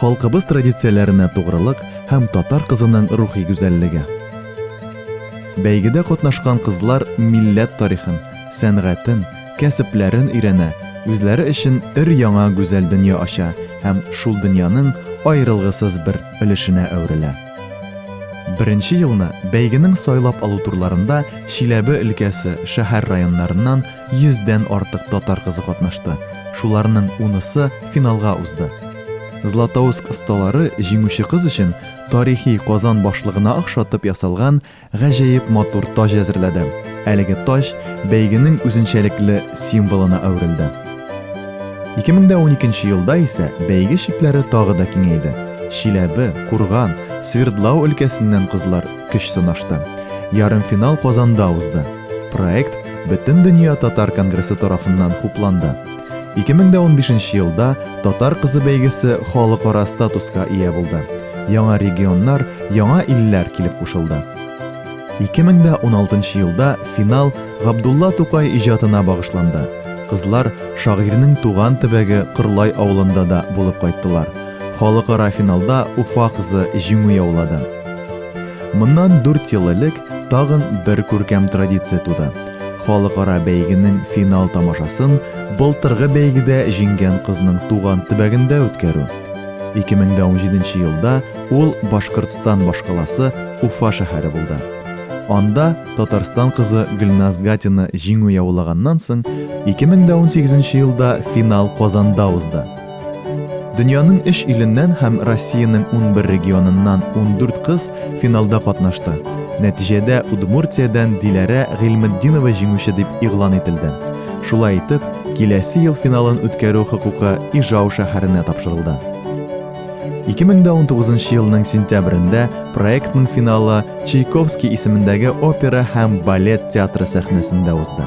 Халкыбыз традицияләренә тугрылык һәм татар кызының рухи гүзәллеге. Бәйгедә катнашкан кызлар милләт тарихын, сәнгатен, кәсепләрен өйрәнә, үзләре өчен өр-яңа гүзәл дөнья ача һәм шул дөньяның аерылгысыз бер өлешенә әверелә. Беренче елны бәйгенең сайлап алу турларында Чиләбе өлкәсе шәһәр-районнарыннан 100дән артык татар кызы катнашты, шуларның унысы финалга узды. Златоуст осталары җиңүче кыз өчен тарихи Казан башлыгына охшатып ясалган гаҗәеп матур таҗ әзерләде. Әлеге таҗ бәйгенең үзенчәлекле символына әверелде. 2012 елда исә бәйге чикләре тагы да киңәйде. Чиләбе, Курган, Свердлау өлкәсеннән кызлар көч сынашты. Ярымфинал Казанда узды. Проект Бөтендөнья татар конгрессы тарафыннан хупланды. 2015 елда Татар кызы бәйгесе халыкара статуска ия булды. Яңа регионнар, яңа илләр килеп кушылды. 2016 елда финал Габдулла Тукай иҗатына багышланды. Кызлар шагыйрьнең туган төбәге Кырлай авылында да булып кайттылар. Халыкара финалда Уфа кызы җиңү яулады. Моннан 4 ел элек Тагын бер күркәм традиция туды. Халыкара бәйгенең финал тамашасын былтыргы бәйгедә җиңгән кызның туган төбәгендә үткәрү. 2017 елда ул Башкортстан башкаласы Уфа шәһәре булды. Анда Татарстан кызы Гөлназ Гатина җиңү яулаганнан соң, 2018 елда финал Казанда узды. Дөньяның өч иленнән һәм Россиянең унбер регионыннан ундүрт кыз финалда катнашты. Нәтиҗәдә Удмуртиядән Диләрә Гыйльметдинова җиңүче дип игълан ителде. Шулай итеп, киләсе ел финалын үткәрү хокукы Ижау шәһәренә тапшырылды. 2019 нчы елның сентябрендә проектның финалы Чайковский исемендәге опера һәм балет театры сәхнәсендә узды.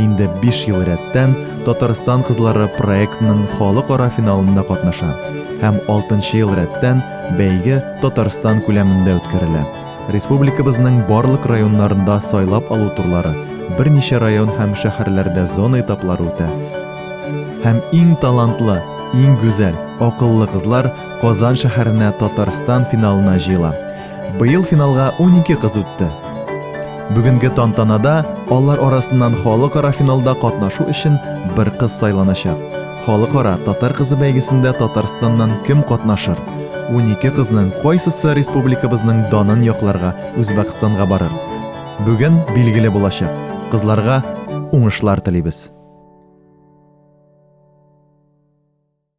Инде 5 ел рәттән Татарстан кызлары проектының халыкара финалында катнаша һәм 6 ел рәттән бәйге Татарстан күләмендә үткәрелә. Республикабызның барлык районнарында сайлап алу турлары, берничә район һәм шәһәрләрдә зона этаплары үтә һәм иң талантлы, иң гүзәл, акыллы кызлар Казан шәһәренә Татарстан финалына җыела. Быел финалга 12 кыз үтте. Бүгенге тантанада алар арасыннан халыкара финалда катнашу өчен бер кыз сайланачак. Халыкара татар кызы бәйгесендә Татарстаннан кем катнашыр? 12 кызның кайсысы республикабызның данын якларга Үзбәкстанга барыр? Бүген билгеле булачак. Кызларга уңышлар телибез.